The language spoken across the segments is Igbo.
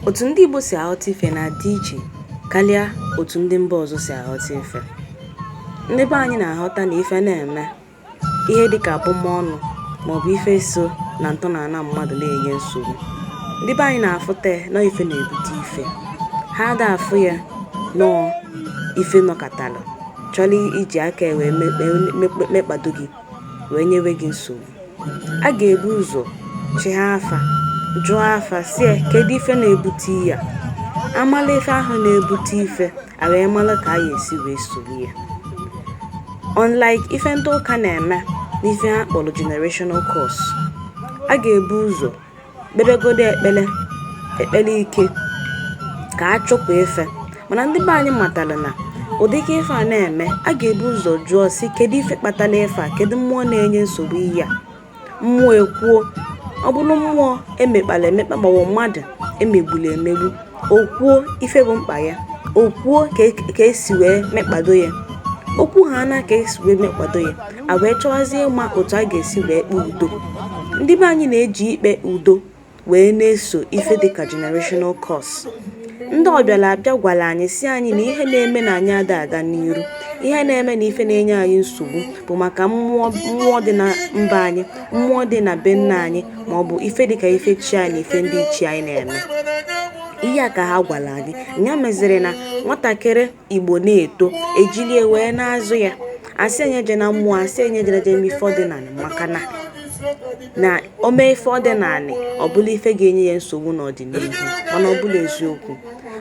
otu ndị Igbo si aghọta ife na-adị iche karịa otu ndị mba ọzọ si aghọta ife ndị be anyị na-aghọta na ife na-eme ihe dịka abụmọnụ maọbụ ife so na ntọala mmadụ na-enye nsogbu ndị be anyị na-afụta na ife na-ebute ife ha ada afụ ya na ọ ife nọkatara chọrọ iji aka wee mekpado gị wee nyewe gị nsogbu a ga-ebu ụzọ chịa afa jụọ afa sie kedu ife na-ebute ya amala ife ahụ na-ebute ife a wee mara ka a ya esi wee soro ya unlike ife ndị ụka na-eme n'ife ha kpọrọ generational curse a ga-ebu ụzọ kpebegodo ekpere ekpere ike ka a chụpụ ife mana ndị be anyị matara na ụdịka ife a na-eme a ga-ebu ụzọ jụọ si kedu ife kpatara ife a kedu mmụọ na-enye nsogbu ihe a mmụọ ekwuo ọ bụrụ mmụọ emekpara emekpa maọbụ mmadụ emegburu emegbu o kwuo ife bụ mkpa ya o kwuo ka esi wee mekpado ya o kwuhaana ka esi wee mekpado ya a wee chọwazie ịma otu a ga-esi wee kpee udo ndị be anyị na-eji ikpe udo wee na-eso ife dịka generational curse ndị ọbịara abịa gwara anyị si anyị na ihe na-eme na anyị ada aga n'iru ihe na-eme na ife na-enye anyị nsogbu bụ maka mmụọ dị na mba anyị mmụọ dị na be nna anyị ma ọ bụ ife dịka ife chi anyị na ife ndị ichie anyị na-eme ihe a ka ha gwara anyị nya meziri na nwatakịrị igbo na-eto ejilie wee na-azụ ya asị ya nya ejena mmụọ asị ya nya ejena je eme ife ọdịnala maka na na o mee ife ọdịnala ọ bụla ife ga-enye ya nsogbu n'ọdịnihu mana ọ bụrọ eziokwu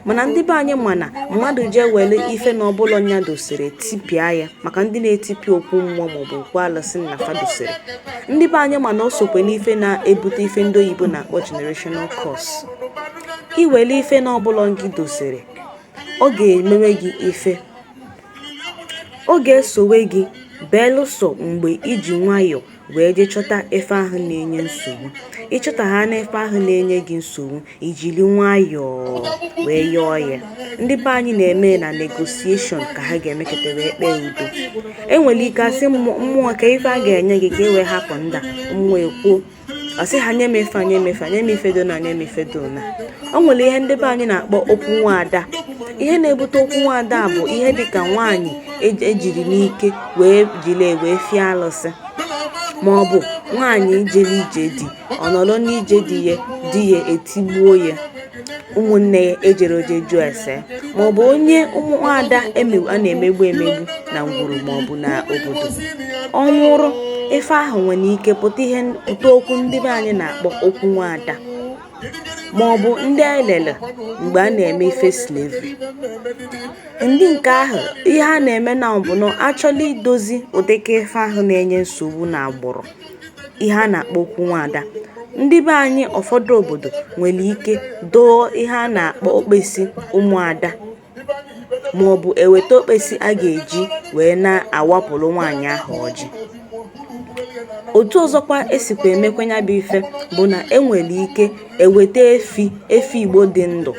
mana ndị be anyị ma na mmadụ jee were ife na ọ bụrọ nya dosiri tipịa ya maka ndị na-etipịa okwu mmụọ maọbụ okwu alụsị nna fa dosiri ndị be anyị ma na o sokwe n'ife na-ebute ife ndị oyibo na-akpọ generational curse i were ife na ọ bụrọ ngị dosiri ọ ga-emewe gị ife Ọ ga-esowe gị belụsọ mgbe i ji nwayọọ wee jee chọta ife ahụ na-enye nsogbu. Ị chọtahaana ife ahụ na-enye gị nsogbu, i jiri nwayọọ wee yọọ ya. Ndị be anyị na-eme na negotiation ka ha ga-emekọta wee kpee udo. E nwere ike asị mmụọ kee ife a ga-enye gị ka e wee hapụ ndị a, mmụọ ekwuo. ọ sị ha nye m ife nye m ife nye m ife dona nye m ife dona o nwere ihe ndị be anyị na-akpọ okwu nwaada ihe na-ebute okwu nwaada bụ ihe dịka nwaanyị ejiri n'ike wee jiri wee fie alụsị ma ọ bụ nwaanyị jere ije di ọ nọrọ n'ije di ya di ya etigbuo ya ụmụnne ya ejiri ọjị jụọ ese maọbụ onye ụmụnwaada a na-emegbu emegbu na ngwuru maọbụ na obodo ọ nwụrụ ife ahụ nwere ike pụta okwu ndị be anyị na-akpọ okwu nwaada ma ọ bụ ndị anyị lere mgbe a na-eme ife slavery ndị nke ahụ ihe a na-eme na ọ bụ na achọla idozi ụdịka ife ahụ na-enye nsogbu na agbụrụ ihe a na-akpọ okwu nwaada ndị be anyị ụfọdụ obodo nwere ike doo ihe a na-akpọ okpesi ụmụada maọbụ eweta okpesi a ga-eji wee na-awapụrụ nwaanyị ahụ ọjị otu ọzọkwa esikwa emekwa nya bụ ife bụ na enwere ike eweta efi efi igbo dị ndụ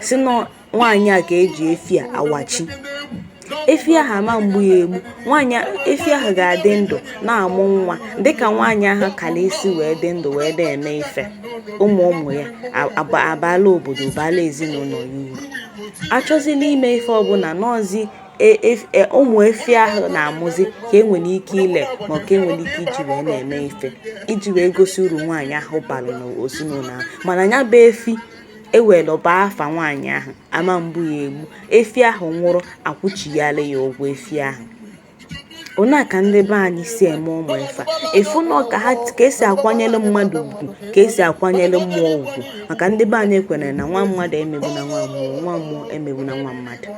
si na nwaanyị a ka eji efi a awachi efi ahụ ama mgbu ya egbu efi ahụ ga-adị ndụ na-amụ nwa dịka nwaanyị ahụ kala isi wee dị ndụ wee na-eme ife ụmụ ụmụ ya abala obodo bala ezinụlọ ya uru achọzila ime ife ọbụla n'ọzi e, e, e, ụmụ efi ahụ na-amụzi ka enwere ike ile ma ka enwere ike iji wee na-eme ife iji wee gosi uru nwaanyị ahụ bara n'ezinụlọ ahụ mana ya bụ efi ewere aba afa nwaanyị ahụ ama mgbu ya egbu efi ahụ nwụrụ akwụchighara ya ụgwọ efi ahụ ona ka ndị be anyị si eme ụmụ ife a ịfụ na ka esi akwanyere mmadụ ugwu ka esi akwanyere mmụọ ugwu maka ndị be anyị kwere na nwa mmadụ emegbuna nwa mmụọ nwa mmụọ emegbuna nwa mmadụ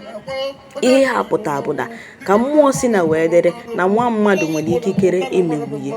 ihe a pụta bụ na ka mmụọ si na wee dịrị na nwa mmadụ nwere ikikere imegbu ya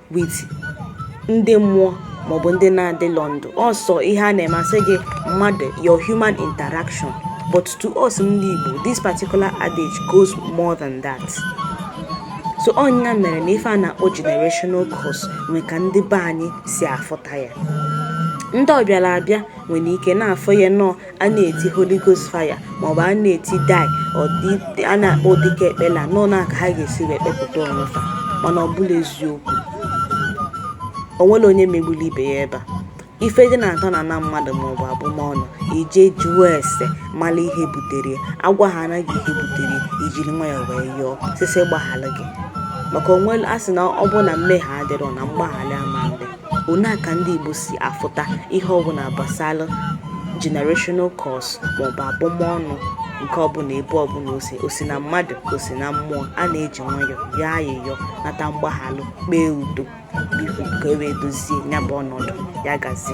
with ndị mmụọ maọbụ ndị na-adịlọ ndụ ọ sọ ihe a na-emasị gị mmadụ your human interaction but to us ndị Igbo this particular adage goes more than that so ọ nya mere na ife a na-akpọ generational curse nwee ka ndị be anyị si afụta ya ndị ọbịara abịa nwere ike na-afụ ya nọọ a na-eti holy ghost fire maọbụ a na-eti die a na-ekpe ụdịka ekpele nọ na ka ha ga-esi wee kpepụta onwe fa mana ọ bụ na eziokwu onwere onye megburu ibe ya ebe a ife dị na-atọ na na mmadụ maọbụ abụmọnụ ị je jụọ ese mara ihe butere agwahana gị ihe butere ijiri nwayọ wee yọọ sị sị gbaghara gị maka onwe a sị na ọ bụ na mmehie adịrọ na mgbaghara ama ndị Onaa ka ndị Igbo si afụta ihe ọbụla gbasara generational curse maọbụ abụmọnụ nke ọbụla ebe ọbụla o si o si na mmadụ o si na mmụọ a na-eji nwayọ yọọ ayịyọ nata mgbaghalụ kpee udo biko ka e wee dozie ya bụ ọnọdụ ya gazi